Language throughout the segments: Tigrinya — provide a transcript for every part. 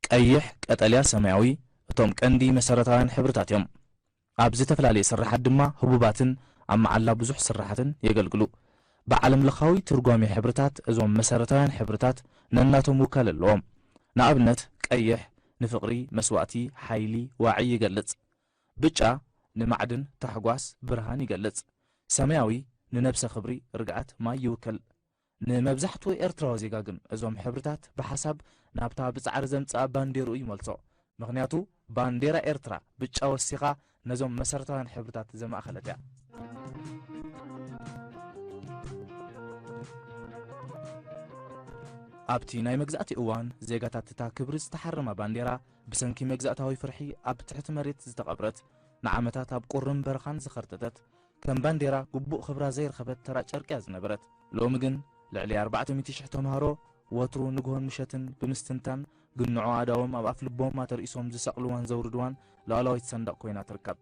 ቀይሕ፣ ቀጠልያ፣ ሰማያዊ እቶም ቀንዲ መሰረታውያን ሕብርታት እዮም። ኣብ ዝተፈላለየ ስርሓት ድማ ህቡባትን ኣብ መዓላ ብዙሕ ስርሓትን የገልግሉ። ብዓለምለኻዊ ትርጓሜ ሕብርታት እዞም መሰረታውያን ሕብርታት ነናቶም ውካለ ኣለዎም። ንኣብነት ቀይሕ ንፍቕሪ፣ መስዋእቲ፣ ሓይሊ፣ ዋዒ ይገልጽ። ብጫ ንማዕድን፣ ታሕጓስ፣ ብርሃን ይገልጽ። ሰማያዊ ንነብሰ፣ ክብሪ፣ ርግኣት፣ ማይ ይውክል። ንመብዛሕትኡ ኤርትራዊ ዜጋ ግን እዞም ሕብርታት ብሓሳብ ናብታ ብጻዕሪ ዘምጽኣ ባንዴርኡ ይመልሶ። ምኽንያቱ ባንዴራ ኤርትራ ብጫ ወሲኻ ነዞም መሰረታውያን ሕብርታት ዘማእከለት እያ። ኣብቲ ናይ መግዛእቲ እዋን ዜጋታት እታ ክብሪ ዝተሓረማ ባንዴራ ብሰንኪ መግዛእታዊ ፍርሒ ኣብ ትሕቲ መሬት ዝተቐብረት፣ ንዓመታት ኣብ ቁርን በረኻን ዝኸርተተት፣ ከም ባንዴራ ግቡእ ክብራ ዘይረኸበት ተራ ጨርቂ እያ ዝነበረት። ሎሚ ግን ልዕሊ ኣርባዕተ ሚእቲ ሽሕ ተምሃሮ ወትሩ ንግሆን ምሸትን ብምስትንታን ግንዖ ኣእዳዎም ኣብ ኣፍልቦም ኣተርኢሶም ዝሰቕልዋን ዘውርድዋን ሉኣላዊት ሰንደቕ ኮይና ትርከብ።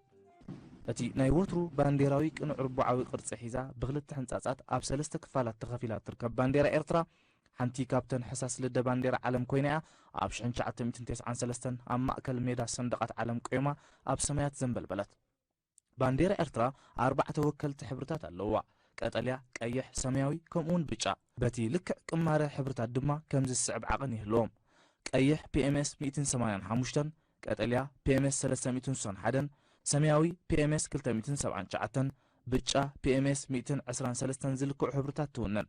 እቲ ናይ ወትሩ ባንዴራዊ ቅኑዕ ርቡዓዊ ቅርጺ ሒዛ ብኽልተ ሕንጻጻት ኣብ ሰለስተ ክፋላት ተኸፊላ እትርከብ ባንዴራ ኤርትራ ሓንቲ ካብተን ሕሳስ ልደ ባንዴራ ዓለም ኮይና እያ ኣብ ሽሕን ትሽዓተ ሚእትን ተስዓን ሰለስተን ኣብ ማእከል ሜዳ ሰንደቓት ዓለም ቆይማ ኣብ ሰማያት ዘንበልበለት። ባንዴራ ኤርትራ ኣርባዕተ ወከልቲ ሕብርታት ኣለዉዋ፣ ቀጠልያ፣ ቀይሕ፣ ሰማያዊ፣ ከምኡ'ውን ብጫ። በቲ ልክዕ ቅማረ ሕብርታት ድማ ከምዚ ዝስዕብ ዓቐን ይህልዎም፣ ቀይሕ፣ PMS ሚእትን ሰማንያን ሓሙሽተን፣ ቀጠልያ፣ PMS ሰለስተ ሚእትን ስሳን ሓደን፣ ሰማያዊ፣ PMS ክልተ ሚእትን ሰብዓን ትሽዓተን፣ ብጫ፣ PMS ሚእትን ዕስራን ሰለስተን ዝልክዑ ሕብርታት ትውንን።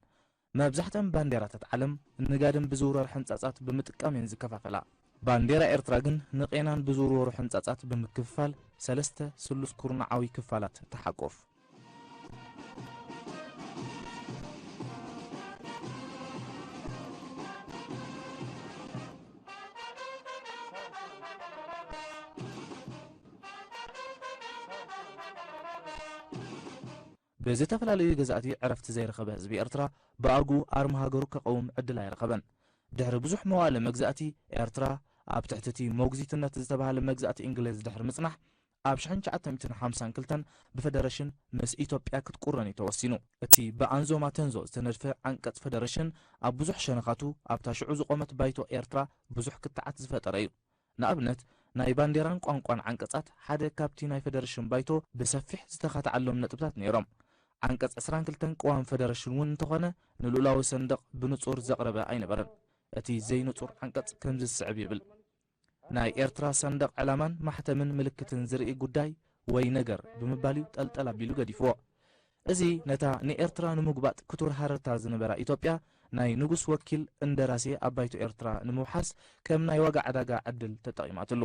መብዛሕትኣን ባንዴራታት ዓለም ንጋድም ብዝውረር ሕንጻጻት ብምጥቃም እየን ዝከፋፈላ። ባንዴራ ኤርትራ ግን ንቄናን ብዝውርወሩ ሕንጻጻት ብምክፍፋል ሰለስተ ስሉስ ኩርናዓዊ ክፋላት ትሓቁፍ። ብዝተፈላለዩ ገዛእቲ ዕረፍቲ ዘይረኸበ ህዝቢ ኤርትራ ብኣርጉ ኣርማ ሃገሩ ከቐውም ዕድል ኣይረኸበን። ድሕሪ ብዙሕ መዋእለ መግዛእቲ፣ ኤርትራ ኣብ ትሕቲ'ቲ ሞግዚትነት ዝተባህለ መግዛእቲ እንግሌዝ ድሕሪ ምጽናሕ፣ ኣብ ሽሕን ትሽዓተ ሚእትን ሓምሳን ክልተን ብፈደረሽን ምስ ኢትዮጵያ ክትቁረን'ዩ ተወሲኑ። እቲ ብኣንዞማ ተንዞ ዝተነድፈ ዓንቀጽ ፈደረሽን ኣብ ብዙሕ ሸነኻቱ ኣብታ ሽዑ ዝቖመት ባይቶ ኤርትራ ብዙሕ ክትዓት ዝፈጠረ'ዩ። ንኣብነት ናይ ባንዴራን ቋንቋን ዓንቀጻት ሓደ ካብቲ ናይ ፈደረሽን ባይቶ ብሰፊሕ ዝተኻትዓሎም ነጥብታት ነይሮም። ዓንቀጽ ዕስራን ክልተን ቅዋም ፈደረሽን እውን እንተኾነ ንልኡላዊ ሰንደቕ ብንጹር ዘቕረበ ኣይነበረን። እቲ ዘይንጹር ዓንቀጽ ከምዚ ዝስዕብ ይብል፣ ናይ ኤርትራ ሰንደቕ ዕላማን ማሕተምን ምልክትን ዝርኢ ጉዳይ ወይ ነገር ብምባል እዩ ጠልጠል ኣቢሉ ገዲፍዎ። እዚ ነታ ንኤርትራ ንምጉባጥ ክቱር ሃረርታ ዝነበራ ኢትዮጵያ ናይ ንጉስ ወኪል እንደራሴ ኣብ ባይቶ ኤርትራ ንምውሓስ ከም ናይ ዋጋ ዕዳጋ ዕድል ተጠቒማትሉ።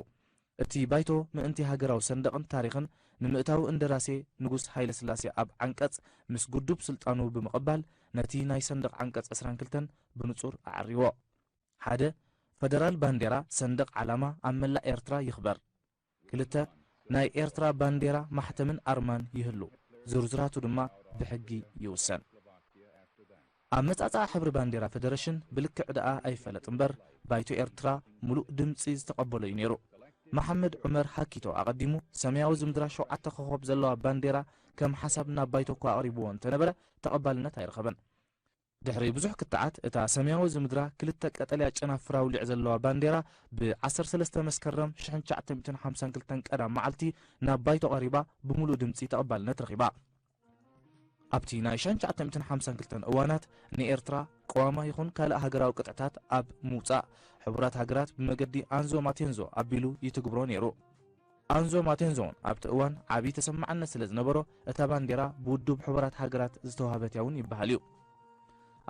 እቲ ባይቶ ምእንቲ ሃገራዊ ሰንደቕን ታሪኽን ንምእታው እንደራሴ ንጉስ ሃይለስላሴ ኣብ ዓንቀጽ ምስ ግዱብ ስልጣኑ ብምቕባል ነቲ ናይ ሰንደቕ ዓንቀጽ ዕስራን ክልተን ብንጹር ኣዐሪዎ። ሓደ፣ ፈደራል ባንዴራ፣ ሰንደቕ ዓላማ፣ ኣብ መላእ ኤርትራ ይኽበር። ክልተ፣ ናይ ኤርትራ ባንዴራ፣ ማሕተምን ኣርማን ይህሉ፣ ዝርዝራቱ ድማ ብሕጊ ይውሰን። ኣመጻጽኣ ሕብሪ ባንዴራ ፈደረሽን ብልክዕ ደኣ ኣይፈለጥ እምበር፣ ባይቶ ኤርትራ ምሉእ ድምጺ ዝተቐበሎ'ዩ ነይሩ። መሓመድ ዑመር ሃኪቶ ኣቐዲሙ ሰማያዊ ዝምድራ ሸውዓተ ኮኾብ ዘለዋ ባንዴራ ከም ሓሳብ ናብ ባይቶ'ኳ ኣቕሪብዎ እንተነበረ ተቐባልነት ኣይረኸበን። ድሕሪ ብዙሕ ክትዓት እታ ሰማያዊ ዝምድራ ክልተ ቀጠልያ ጨናፍር ኣውሊዕ ዘለዋ ባንዴራ ብ ዓሰርተ ሰለስተ መስከረም ሽሕን ትሽዓተ ሚእትን ሓምሳን ክልተን ቀዳም መዓልቲ ናብ ባይቶ ቀሪባ ብምሉእ ድምጺ ተቐባልነት ረኺባ። ኣብቲ ናይ ሽሕን ትሽዓተ ሚእትን ሓምሳን ክልተን እዋናት ንኤርትራ ቅዋማ ይኹን ካልእ ሃገራዊ ቅጥዕታት ኣብ ምውጻእ ሕቡራት ሃገራት ብመገዲ ኣንዞ ማቴንዞ ኣቢሉ ይትግብሮ ነይሩ። ኣንዞ ማቴንዞ'ውን ኣብቲ እዋን ዓቢ ተሰማዕነት ስለ ዝነበሮ፣ እታ ባንዴራ ብውድብ ሕቡራት ሃገራት ዝተዋህበት'ያ'ውን ይበሃል'ዩ።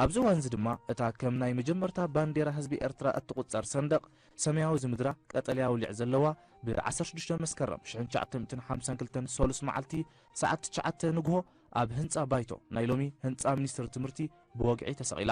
ኣብዚ እዋን'ዚ ድማ እታ ከም ናይ መጀመርታ ባንዴራ ህዝቢ ኤርትራ እትቑጸር ሰንደቕ፣ ሰማያዊ ዝምድራ ቀጠልያ ኣውሊዕ ዘለዋ፣ ብ ዓሰርተ ሽዱሽተ መስከረም ሽሕን ትሽዓተ ሚእትን ሓምሳን ክልተን ሰሉስ መዓልቲ ሰዓት ትሽዓተ ንግሆ ኣብ ህንጻ ባይቶ፣ ናይ ሎሚ ህንጻ ሚኒስትሪ ትምህርቲ፣ ብወግዒ ተሰቒላ።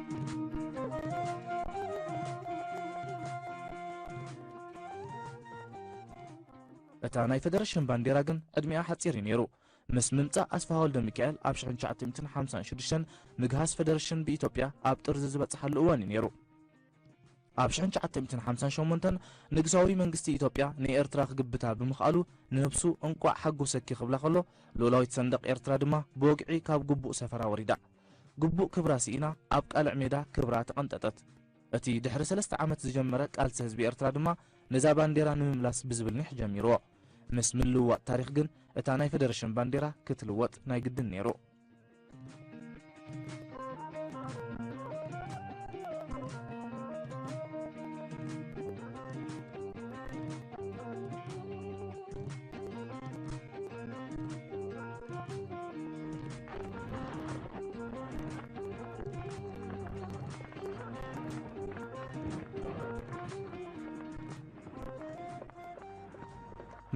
እታ ናይ ፈደረሽን ባንዴራ ግን ዕድሚኣ ሓጺር እዩ ነይሩ። ምስ ምምጻእ ኣስፍሃ ወልደሚካኤል ኣብ ሽሕን ትሽዓተ ሚእትን ሓምሳን ሽዱሽተን ምግሃስ ፈደረሽን ብኢትዮጵያ ኣብ ጥርዚ ዝበጽሓሉ እዋን እዩ ነይሩ። ኣብ ሽሕን ትሽዓተ ሚእትን ሓምሳን ሸሞንተን ንግሳዊ መንግስቲ ኢትዮጵያ ንኤርትራ ክግብታ ብምኽኣሉ ንህብሱ እንቋዕ ሓጎሰኪ ክብላ ከሎ፣ ልኡላዊት ሰንደቕ ኤርትራ ድማ ብወግዒ ካብ ግቡእ ሰፈራ ወሪዳ። ግቡእ ክብራ ስኢና ኣብ ቃልዕ ሜዳ ክብራ ተቐንጠጠት። እቲ ድሕሪ ሰለስተ ዓመት ዝጀመረ ቃልሲ ህዝቢ ኤርትራ ድማ ነዛ ባንዴራ ንምምላስ ብዝብል ኒሕ ጀሚርዎ። ምስ ምልውዋጥ ታሪኽ ግን እታ ናይ ፈደረሽን ባንዴራ ክትልወጥ ናይ ግድን ነይሩ።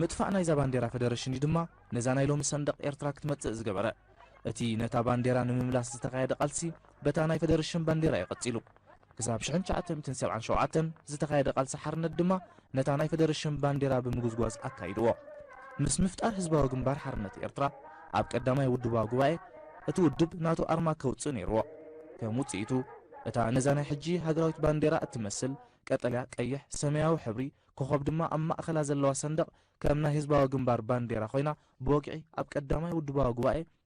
ምጥፋእ ናይዛ ባንዴራ ፈደረሽን እዩ ድማ ነዛ ናይ ሎሚ ሰንደቕ ኤርትራ ክትመጽእ ዝገበረ። እቲ ነታ ባንዴራ ንምምላስ ዝተኻየደ ቃልሲ በታ ናይ ፈደረሽን ባንዴራ እዩ ቀጺሉ። ክሳብ ሽሕን ትሽዓተ-ምትን ሰብዓን ሸውዓተን ዝተኻየደ ቃልሲ ሓርነት ድማ ነታ ናይ ፈደረሽን ባንዴራ ብምጉዝጓዝ ኣካይድዎ። ምስ ምፍጣር ህዝባዊ ግንባር ሓርነት ኤርትራ ኣብ ቀዳማይ ውድባዊ ጉባኤ እቲ ውድብ ናቱ ኣርማ ከውጽእ ነይርዎ። ከም ውጽኢቱ እታ ነዛ ናይ ሕጂ ሃገራዊት ባንዴራ እትመስል ቀጠልያ፣ ቀይሕ፣ ሰመያዊ ሕብሪ ኮኾብ ድማ ኣብ ማእከላ ዘለዋ ሰንደቕ ከም ናይ ህዝባዊ ግንባር ባንዴራ ኮይና ብወግዒ ኣብ ቀዳማይ ውድባዊ ጉባኤ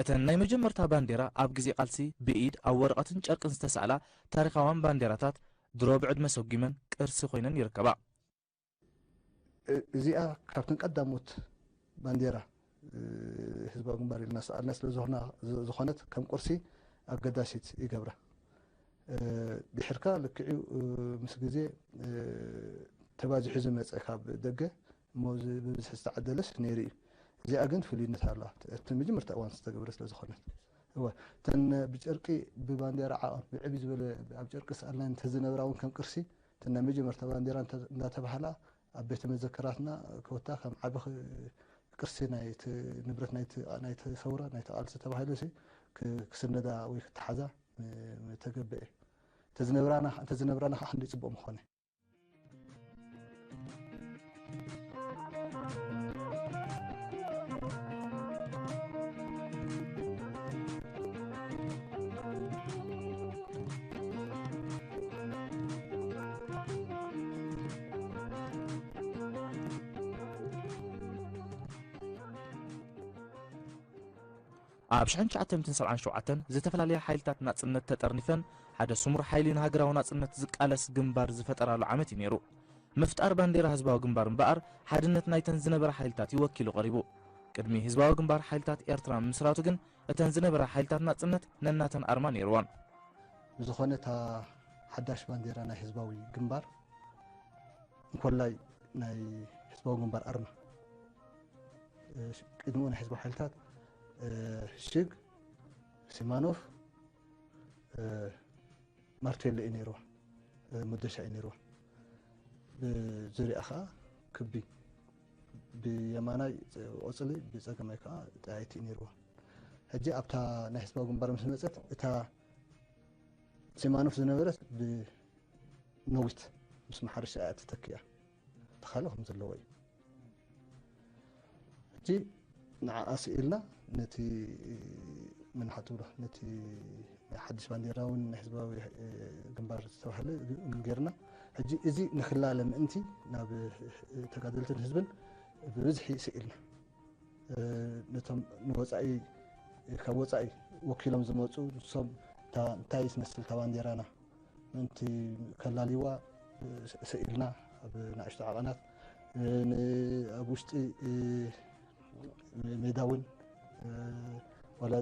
እተን ናይ መጀመርታ ባንዴራ ኣብ ግዜ ቃልሲ ብኢድ ኣብ ወረቐትን ጨርቅን ዝተሳእላ ታሪኻውያን ባንዴራታት ድሮ ብዕድመ ሰጒመን ቅርሲ ኮይነን ይርከባ። እዚኣ ካብተን ቀዳሞት ባንዴራ ህዝባዊ ግንባር ኢልና ሰኣልና ስለ ዝኾነት ከም ቁርሲ ኣገዳሲት ይገብራ ድሕርካ ልክዕዩ ምስ ግዜ ተባዚሑ ዝመጸ ካብ ደገ እሞ ብብዝሒ ዝተዓደለስ ነይሩ እዩ እዚኣ ግን ፍሉይነት ኣለዋ እቲ መጀመርታ እዋን ዝተገብረ ስለ ዝኾነት እወ እተን ብጨርቂ ብባንዴራ ዓቐን ብዕብይ ዝበለ ኣብ ጨርቂ ሰኣልና እንተዝነብራ እውን ከም ቅርሲ እተን ናይ መጀመርታ ባንዴራ እንዳተባህላ ኣብ ቤተ መዘክራትና ኮታ ከም ዓቢ ቅርሲ ናይቲ ንብረት ናይቲ ሰውራ ናይቲ ቃልሲ ተባሂሉሲ ክስነዳ ወይ ክተሓዛ ምተገበኤ። እንተዝነብራና ከኣ ክንደይ ጽቡቕ ምኾነ። ኣብ ሽሕን ትሽዓተምትን ሰብዓን ሸውዓተን ዝተፈላለያ ሓይልታት ናጽነት ተጠርኒፈን ሓደ ስሙር ሓይሊ ንሃገራዊ ናጽነት ዝቃለስ ግንባር ዝፈጠራሉ ዓመት እዩ ነይሩ። ምፍጣር ባንዴራ ህዝባዊ ግንባር እምበኣር ሓድነት ናይተን ዝነበራ ሓይልታት እዩ ወኪሉ ቀሪቡ። ቅድሚ ህዝባዊ ግንባር ሓይልታት ኤርትራ ምምስራቱ ግን እተን ዝነበራ ሓይልታት ናጽነት ነናተን ኣርማ ነይርወን። ብዝኾነ እታ ሓዳሽ ባንዴራ ናይ ህዝባዊ ግንባር እንኮላይ ናይ ህዝባዊ ግንባር ኣርማ ቅድሚኡ ናይ ህዝባዊ ሓይልታት ሽግ ሲማኖፍ ማርቴሎ እዩ ነይርዎ መዶሻ እዩ ነይርዎ ብዙሪያ ከዓ ክቢ ብየማናይ ቆፅሊ ብፀገማይ ከዓ ጠያይቲ እዩ ነይርዎ ሕጂ ኣብታ ናይ ህዝባዊ ግንባር ምስ መፀት እታ ሲማኖፍ ዝነበረት ብነዊት ምስ መሓረሻ እያ ተተኪኣ ተኻለ ከም ዘለዎ እዩ ሕጂ ንዓኣ ስኢልና ነቲ ምን ሓትብሎ ነቲ ናይ ሓድሽ ባንዴራ እውን ናይ ህዝባዊ ግንባር ዝተባሃለ ጌርና ሕጂ እዚ ንክላለ ምእንቲ ናብ ተጋደልትን ህዝብን ብብዝሒ ስኢልና ነቶም ንወፃኢ ካብ ወፃኢ ወኪሎም ዝመፁ ንሶም እታ እንታይ ትመስል እታ ባንዴራና ምእንቲ ከላልይዋ ስኢልና ኣብ ንኣሽቱ ዓቐናት ኣብ ውሽጢ ሜዳ እውን ዋላ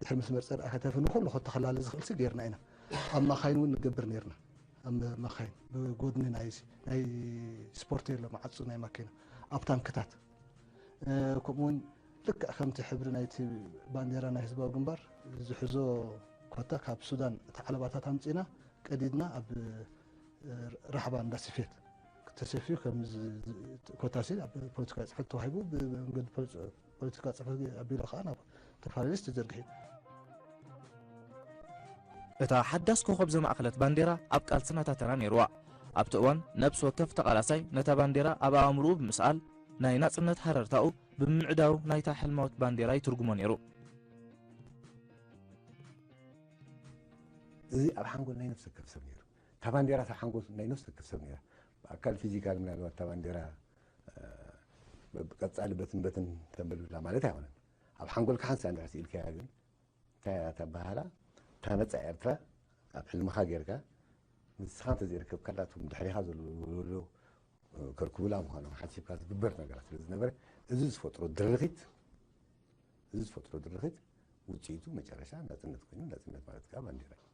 ድሕሪ መስመር ፀርኣኸተፊ ንኩሉ ከተኸላሊ ዝኽእል ሲ ገይርና ኢና ኣብ ማኻይን እውን ንገብር ነይርና ኣብ መኻይን ብጎድኒ ናይ ስፖርት የሎ መዓፁ ናይ ማኪና ኣብ ታንክታት ከምኡ ውን ልክዕ ከምቲ ሕብሪ ናይቲ ባንዴራ ናይ ህዝባዊ ግንባር ዝሕዞ ኮታ ካብ ሱዳን እቲ ዓለባታት ኣምፂና ቀዲድና ኣብ ራሕባ እንዳ ስፌት ተሰፊዩ ኮታ ሲ ኣብ ፖለቲካዊ ፅሕፈት ተዋሂቡ ብመንገዲ ፖለቲካ ጽሕፈት ቢሮ ከኣ ናብ እተፈላለየ ሊስት ተዘርጊሑ። እታ ሓዳስ ኮኾብ ዘማእከለት ባንዴራ ኣብ ቃልስና እታ ተራ ነይሩዋ። ኣብቲ እዋን ነብሲ ወከፍ ተቓላሳይ ነታ ባንዴራ ኣብ ኣእምሩኡ ብምስኣል ናይ ናጽነት ሃረርታኡ ብምምዕዳው ናይታ ሕልማዊት ባንዴራ ይትርጉሞ ነይሩ። እዚ ኣብ ሓንጎል ናይ ነፍሲ ወከፍ ሰብ ነይሩ። እታ ባንዴራ እታ ሓንጎል ናይ ነፍሲ ወከፍ ሰብ ነይራ። ብኣካል ፊዚካል ምናልባት እታ ባንዴራ ቀፃሊ በትን በትን ተብል ብላ ማለት ኣይኮነን ኣብ ሓንጎልካ ሓንሳ እንድሕር ስኢልካያ ግን እንታይ እያ ተባሃላ እታ ነፃ ኤርትራ ኣብ ሕልምኻ ጌርካ ንስኻ እንተዘይርከብካላ እቶም ድሕሪኻ ዘለዉ ከርክቡላ ምዃኖም ሓሲብካ ዝግበር ነገራት ስለ ዝነበረ እዚ ዝፈጥሮ ድርኺት እዚ ዝፈጥሮ ድርኺት ውፅኢቱ መጨረሻ ናፅነት ኮይኑ ናፅነት ማለት ከዓ ባንዴራ እዩ።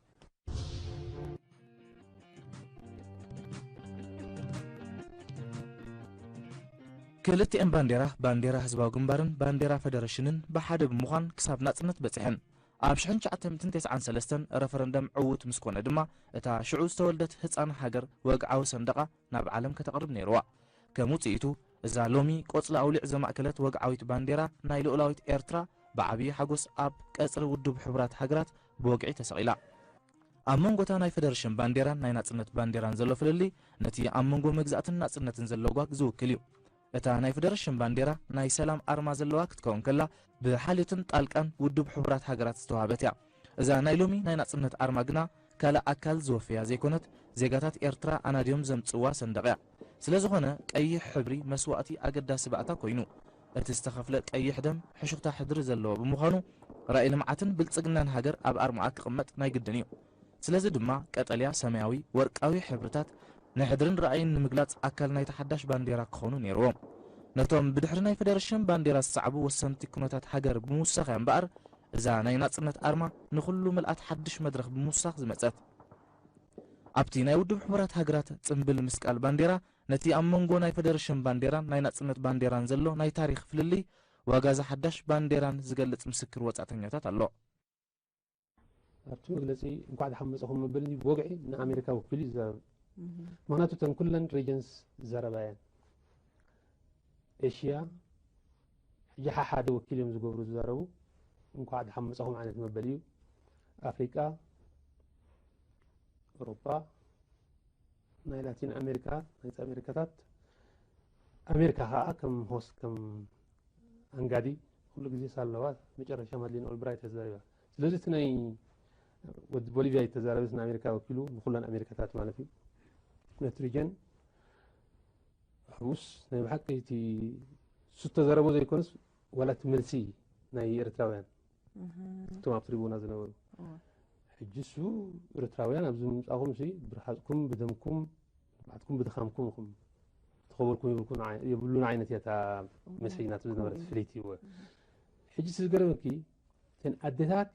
ክልቲኤን ባንዴራ ባንዴራ ህዝባዊ ግንባርን ባንዴራ ፈደረሽንን ብሓደ ብምዃን ክሳብ ናጽነት በጺሐን። ኣብ ሽሕን ትሽዓተ ሚእትን ተስዓን ሰለስተን ረፈረንደም ዕዉት ምስ ኮነ ድማ እታ ሽዑ ዝተወልደት ህጻን ሃገር ወግዓዊ ሰንደቓ ናብ ዓለም ከተቕርብ ነይሩዋ። ከም ውጽኢቱ እዛ ሎሚ ቆጽሊ ኣውሊዕ ዘማእከለት ወግዓዊት ባንዴራ ናይ ልኡላዊት ኤርትራ ብዓብዪ ሓጎስ ኣብ ቀጽሪ ውዱብ ሕቡራት ሃገራት ብወግዒ ተሰቒላ። ኣብ መንጎ እታ ናይ ፈደረሽን ባንዴራን ናይ ናጽነት ባንዴራን ዘሎ ፍልልይ ነቲ ኣብ መንጎ መግዛእትን ናጽነትን ዘሎ ጓግ ዝውክል እዩ። እታ ናይ ፈደረሽን ባንዴራ ናይ ሰላም ኣርማ ዘለዋ ክትከውን ከላ ብሓልዮትን ጣልቃን ውድብ ሕቡራት ሃገራት ዝተዋህበት እያ። እዛ ናይ ሎሚ ናይ ናጽነት ኣርማ ግና ካልእ ኣካል ዝወፈያ ዘይኮነት ዜጋታት ኤርትራ ኣናድዮም ዘምጽእዋ ሰንደቕ እያ። ስለዝኾነ ቀይሕ ሕብሪ መስዋእቲ ኣገዳሲ ባእታ ኮይኑ። እቲ ዝተኸፍለ ቀይሕ ደም ሕሹኽታ ሕድሪ ዘለዎ ብምዃኑ ራኢ ልምዓትን ብልፅግናን ሃገር ኣብ ኣርምኣ ክቕመጥ ናይ ግድን እዩ። ስለዚ ድማ ቀጠልያ፣ ሰማያዊ፣ ወርቃዊ ሕብርታት ንሕድርን ራእይን ንምግላፅ ኣካል ናይታ ሓዳሽ ባንዴራ ክኾኑ ነይርዎም። ነቶም ብድሕሪ ናይ ፈደረሽን ባንዴራ ዝሰዕቡ ወሰንቲ ኩነታት ሃገር ብምውሳኽ እያ እምበኣር እዛ ናይ ናፅነት ኣርማ ንኹሉ ምልኣት ሓድሽ መድረኽ ብምውሳኽ ዝመፀት። ኣብቲ ናይ ውድብ ሕቡራት ሃገራት ፅምብል ምስቃል ባንዴራ ነቲ ኣብ መንጎ ናይ ፈደረሽን ባንዴራን ናይ ናጽነት ባንዴራን ዘሎ ናይ ታሪኽ ፍልልይ ዋጋ'ዛ ሓዳሽ ባንዴራን ዝገልጽ ምስክር ወጻእተኛታት ኣሎ። ኣብቲ መግለጺ እንኳዕ ደሓን መጻኹም መበሊ ብወግዒ ንኣሜሪካ ወኪሉ እዩ ዝዛረብ። ምኽንያቱ እተን ኩለን ሪጅንስ ዘረባ እየን። ኤሽያ ሕጂ ሓሓደ ወኪል እዮም ዝገብሩ ዝዛረቡ እንኳዕ ደሓን መጻኹም ዓይነት መበሊ እዩ። ኣፍሪቃ፣ ኤውሮጳ፣ ናይ ላቲን ኣሜሪካ ናይዚ ኣሜሪካታት ኣሜሪካ ከዓ ከም ሆስ ከም ኣንጋዲ ኩሉ ግዜ ሳለዋ መጨረሻ ማድሊን ኦልብራይት እያ ተዛሪባ ስለዚ እቲ ናይ ወዲ ቦሊቪያ እዩ ተዛረበ ንኣሜሪካ ወኪሉ ንኩለን ኣሜሪካታት ማለት እዩ ነቲ ሪጀን ሕሙስ ናይ ብሓቂ እቲ እሱ ተዘረቦ ዘይኮነስ ዋላ እቲ መልሲ ናይ ኤርትራውያን እቶም ኣብ ትሪቡና ዝነበሩ ሕጂ እሱ ኤርትራውያን ኣብዚ ምምፃኹም ሲ ብርሓፅኩም ብደምኩም ባዕትኩም ብድኻምኩም ኹም ተኸበርኩም ይብልኩም የብሉን ዓይነት እያ እታ መስሒ ናቱ ዝነበረት ፍልይቲ እወ ሕጂ እቲ ዝገረመኪ እተን ኣዴታት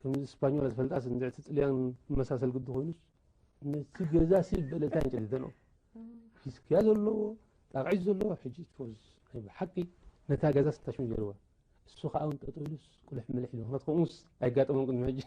ከምዚ ስፓኞላ ዝፈልጣ ንዝዕቲ ጥልያን መሳሰል ግዲ ኮይኑስ ነቲ ገዛ ሲ በለታ ንጨዲደኖ ፊስክያ ዘለዎ ጣቕዒት ዘለዎ ሕጂ ትፎዝ ናይ ብሓቂ ነታ ገዛ ስታሽን ገይርዋ እሱ ከዓ እውን ጠጠው ኢሉስ ቁልሕ ምልሕ ኢሉ ምክንያቱ ከምኡስ ኣይጋጠሞም ቅድሚ ሕጂ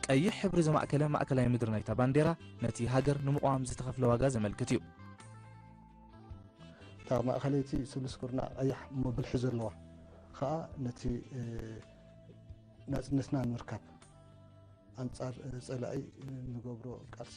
ቀይሕ ሕብሪ ዘማእከለ ማእከላይ ምድሪ ናይታ ባንዴራ፣ ነቲ ሃገር ንምቕዋም ዝተኸፍለ ዋጋ ዘመልክት እዩ። እታ ማእኸለይቲ ስሉስ ኩርናዕ ቐያሕ እሞ ብልሒ ዘለዋ ኸኣ ነቲ ናጽነትና ንምርካብ ኣንጻር ጸላኢ እንገብሮ ቃልሲ